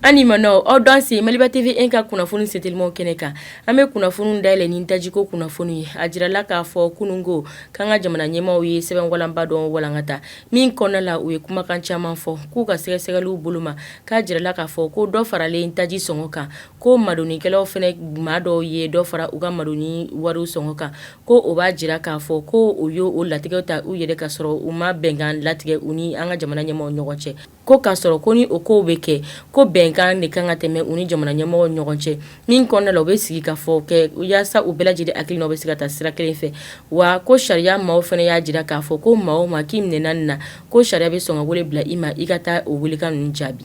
An ni ma aw danse maliba TV 1 ka kunnafoni setelimanw kɛnɛ kan an bɛ kunnafoni dayɛlɛ ni tajiko kunnafoni ye a jirala k'a fɔ kunungo k'an ka jamana ɲɛmaaw ye sɛbɛnwalanba dɔ walankata min kɔnɔna la u ye kumakan caman fɔ k'u ka sɛgɛsɛgɛliw bolo ma k'a jirala k'a fɔ ko dɔ faralen taji sɔngɔ kan ko madonikɛlaw fɛnɛ maa dɔw ye dɔ fara u ka madoni wari sɔngɔ kan ko o b'a jira k'a fɔ ko u y' o latigɛw ta u yɛrɛ ka sɔrɔ u ma bɛnkan latigɛ u ni an ka jamana ɲɛmɔgɔ ɲɔgɔn cɛ ko k'a sɔrɔ ko ni o ko bɛ kɛ ko bɛnkan de kan ka tɛmɛ u ni jamana ɲɛmɔgɔ ɲɔgɔn cɛ min kɔnɔna la u bɛ sigi ka fɔ kɛ u yaasa u bɛɛ lajɛlen hakilinaw bɛ se ka taa sira kelen fɛ wa ko sariya maaw fana y'a jira k'a fɔ ko maa o maa k'i minɛ nin na ko sariya bɛ sɔn ka wele bila i ma i ka taa o welekan ninnu jaabi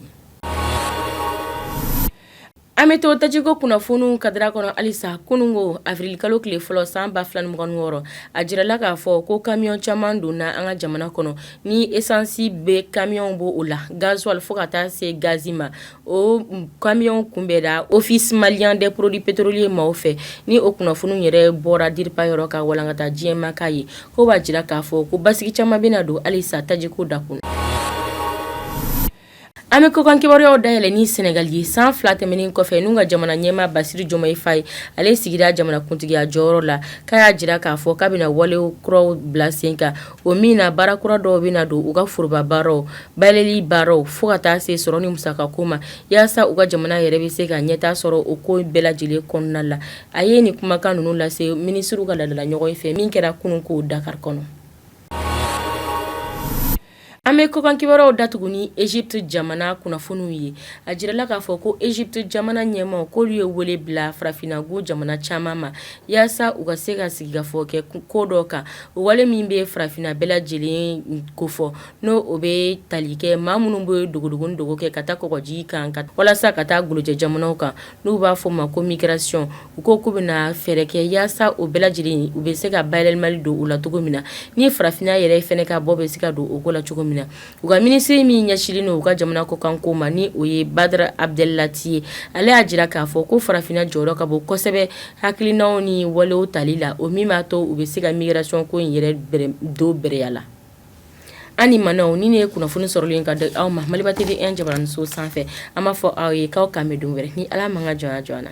An bɛ to tajiko kunnafoniw kadara kɔnɔ halisa kunungo awirili kalo tile fɔlɔ san ba fila ni mugan ni wɔɔrɔ a jirala k'a fɔ ko kamiyɔn caman donna an ka jamana kɔnɔ ni esansi bɛ kamiyɔn b' o la gazuwali fo ka taa se gazi ma o kamiyɔn kunbɛda office malien des produits pétroliers maaw fɛ ni o kunnafoni yɛrɛ bɔra diripa yɔrɔ ka walankata diɲɛ maa k'a ye ko b'a jira k'a fɔ ko basigi caman bɛna don halisa tajiko dakun An bɛ kɔkan kibaruyaw dayɛlɛ ni sɛnɛgali ye san fila tɛmɛnen kɔfɛ n'u ka jamana ɲɛmaa basiru jomayi faye ale sigira jamanakuntigiya jɔyɔrɔ la k'a y'a jira k'a fɔ k'a bɛna wale kuraw bila sen kan o min na baara kura dɔw bɛna don u ka foroba baaraw bayɛlɛli baaraw fo ka taa se sɔrɔ ni musaka ko ma yaasa u ka jamana yɛrɛ bɛ se ka ɲɛtaa sɔrɔ o ko bɛɛ lajɛlen kɔnɔna la a ye nin kumakan ninnu lase minisiriw ka laadalaɲɔgɔnye fɛ min kɛra kunungo dakari kɔnɔ An bɛ kɔkan kibaruyaw datugu ni ezipiti jamana kunnafoniw ye a jirala k'a fɔ ko ezipiti jamana ɲɛmaaw k'olu ye wele bila farafinna gun jamana caman ma yaasa u ka se ka sigikafɔ kɛ ko dɔ kan o wale min bɛ farafinna bɛɛ lajɛlen kofɔ n' o bɛ tali kɛ maa minnu bɛ dogodogo kɛ ka taa kɔgɔji kan walasa ka taa golojɛ jamanaw kan n'u b'a fɔ o ma ko migration u ko k'u bɛna fɛɛrɛ kɛ yaasa o bɛɛ lajɛlen u bɛ se ka bayɛlɛmali don o la cogo min na ni farafinna yɛrɛ fɛnɛ ka bɔ bɛ se ka don o ko la cogo min na u ka minisiri min ɲɛsinlen don u ka jamana kɔkanko ma ni o ye badara abdelati ye ale y'a jira k'a fɔ ko farafinna jɔyɔrɔ ka bon kosɛbɛ hakilinaw ni walew tali la o min b'a to u bɛ se ka migration ko in yɛrɛ don bɛrɛya la An ni ma nin de ye kunnafoni sɔrɔlen ka di aw ma maliba TV 1 jabaraninso sanfɛ an b'a fɔ aw ye k'aw k'an bɛn don wɛrɛ ni ala m'a ka jɔnya jɔ an na